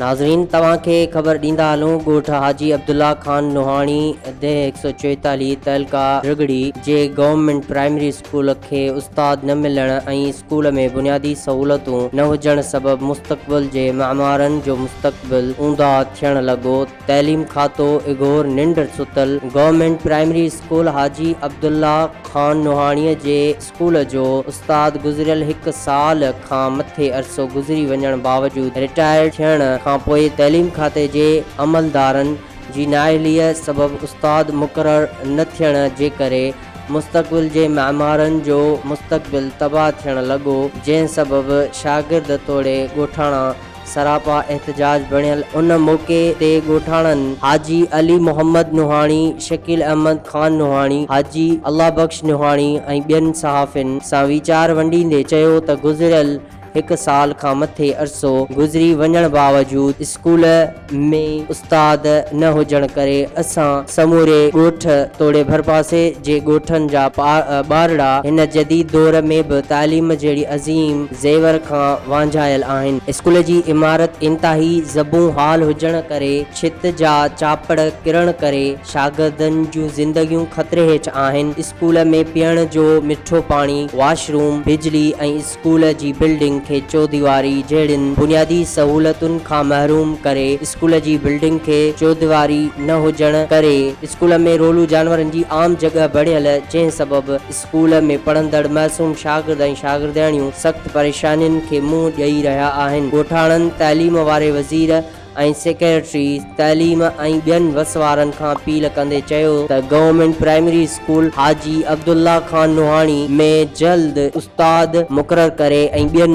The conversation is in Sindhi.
ناظرين توهان کي خبر ڏيندا هلون ڳوٺ حاجي عبدالله خان نوحاڻي ديهه هڪ سؤ چويتاليهه تعلقه رڳڙي جي گورنمينٽ پرائمري اسڪول کي استاد نه ملڻ ۽ اسڪول ۾ بنيادي سهولتون نه هجڻ سبب مستقبل جي معمارن جو مستقبل اونداهه ٿيڻ لڳو تعليم کاتو اگهور ننڊ ستل government primary school Haji Abdullah Khan Nohani جي اسڪول جو استاد گذريل هڪ سال کان مٿي عرصو گذري وڃڻ باوجود رٽائرڊ ٿيڻ کانپوء تعليم کاتي جي عملدارن جي نااهليء سبب استاد مقرر نه ٿيڻ جي ڪري مستقبل جي معمارن جو مستقبل تباهه ٿيڻ لڳو جنهن سبب شاگرد توڙي ڳوٺاڻا سراپا احتجاج بڻيل ان موقعي تي ڳوٺاڻن حاجي علي محمد نوحاڻي، شڪيل احمد خان نوحاڻي، حاجي الله بخش نوحاڻي ۽ ٻين صحافين سان ويچار ونڊيندي چيو ته گذريل هڪ سال کان مٿي عرصو گذري وڃڻ باوجود اسڪول ۾ استاد نه هجڻ ڪري اسان سموري ڳوٺ توڙي ڀرپاسي جي ڳوٺن جا ٻارڙا هن جديد دور ۾ به تعليم جهڙي عظيم زيور کان وانجهايل آهن. اسڪول جي عمارت انتهائي زبون حال هجڻ ڪري ڇت جا چاپڙ ڪرڻ ڪري شاگردن جون زندگيون خطري هيٺ آهن. اسڪول ۾ پيئڻ جو مٺو پاڻي، واش روم، بجلي ۽ اسڪول جي بلڊنگ کي چوديواري جهڙين بنيادي سهولتن کان محروم ڪري اسڪول جي بلڊنگ کي چوديواري نه هجڻ ڪري اسڪول ۾ رولو جانورن جي عام جڳهه بڻيل جنهن سبب اسڪول ۾ پڙهندڙ معصوم شاگرد ۽ شاگردياڻيون سخت پريشانين کي منهن ڏئي رهيا آهن، ڳوٺاڻن تعليم واري وزير ۽ سيڪريٽري تعليم ۽ ٻين وسوارن کان اپيل ڪندي چيو ته government primary school Haji Abdullah Khan Nohani ۾ جلد استاد مقرر ڪري ۽ ٻين